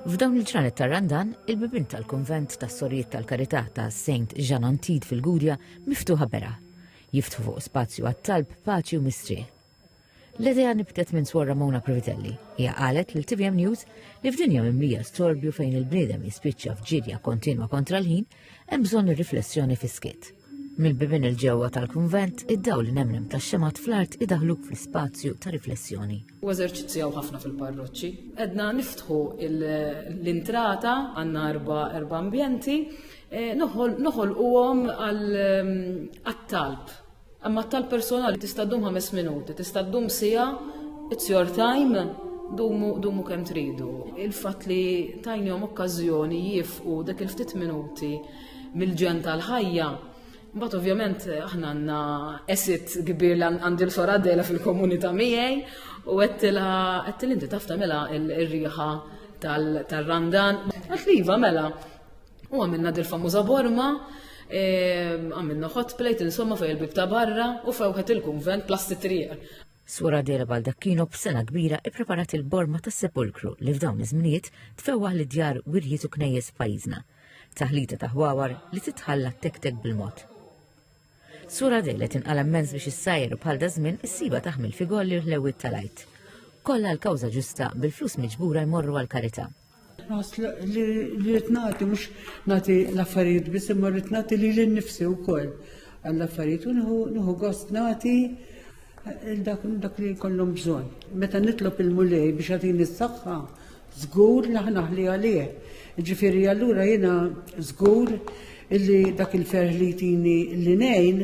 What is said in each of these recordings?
F'dawn il-ġranet ta' Randan, il-bibin tal-kunvent tas-Sorijiet tal-Karità ta' Saint Jean Antid fil-Gudja miftuħa beraħ, jiftħu fuq spazju għat-talb, paċi u mistrieħ. L-idea nibtet minn Swor Ramona Previtelli. Hija qalet lil TVM News li f'dinja mimlija storbju fejn il-bniedem jispiċċa f'ġirja kontinwa kontra l-ħin, Hemm bżonn ir-riflessjoni fis-skiet. Mill-bibin il-ġewwa tal-kunvent, id-dawl li nemnem tax-xemgħat fl-art idaħluk fl-ispazju ta' riflessjoni. U eżerċizzjaw ħafna fil-parroċċi. Edna niftħu l-intrata għandna erba' erba' ambjenti, eh, noħolquhom għal-talb ehm, Imma tal-personal tista' ddum ħames minuti, tista' ddum sija, it's your time, dumu, dumu kemm tridu. Il-fatt li tajnihom okkażjoni jifqu dak il-ftit minuti mill-ġen tal-ħajja Mbagħad ovvjament aħna għandna esit kbir li għandi l-sora dela fil-komunità miegħi u għettila għettila inti taf tagħmilha ir-riħa tal-randan. Għatliva mela, U għamilna dil-famuża borma, ehm, għamilna hot plate insomma fej il-bib ta' barra u fewħet il-kunvent plasti triq. Sura Dera Baldakkino b'sena kbira ippreparat il-borma tas sepulkru li f'dawn iż-żminijiet tfewwaħ li djar wirjiet u knejjes f'pajjiżna. Taħlita ta' ħwawar li titħalla tektek bil-mod. Sura dele tinqala immens biex issajr bħal da żmien issiba taħmil fi golli l-ħlewwiet tal-għajt. Kollha l-kawża ġusta bil-flus miġbura jmorru għal karità. Li rrid nagħti mhux nagħti l-affarijiet biss imma rrid nagħti lili nnifsi wkoll għall-affarijiet u nieħu gost nagħti Dak li jkollhom bżonn. Meta nitlob il-Mulej biex jagħtini s-saħħa, żgur li ħanaħli għalih. Ġifieri allura jiena żgur illi dak il-ferħ li jtini li ngħin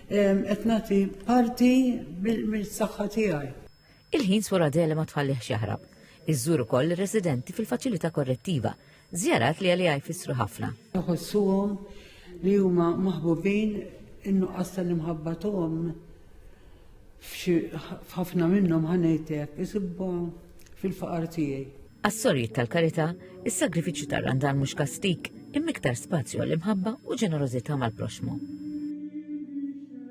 qed nagħti parti mis-saħħa tiegħi. Il-ħin Sforadele ma tħallih x'jaħrab. Iżżur ukoll ir-residenti fil-faċilità korrettiva Żjarat li għalija jfissru ħafna. Iħossuhom li huma maħbubin in-nuqqas tal-imħabba tagħhom f'ħafna minnhom ħanejtek isibba fil-faqar tiegħi. Għas-sorjiet tal-karità, is-sagrifiċċju tar-randan mhux kastik, immiktar spazju għall-imħabba u ġenerożità mal-proxmu.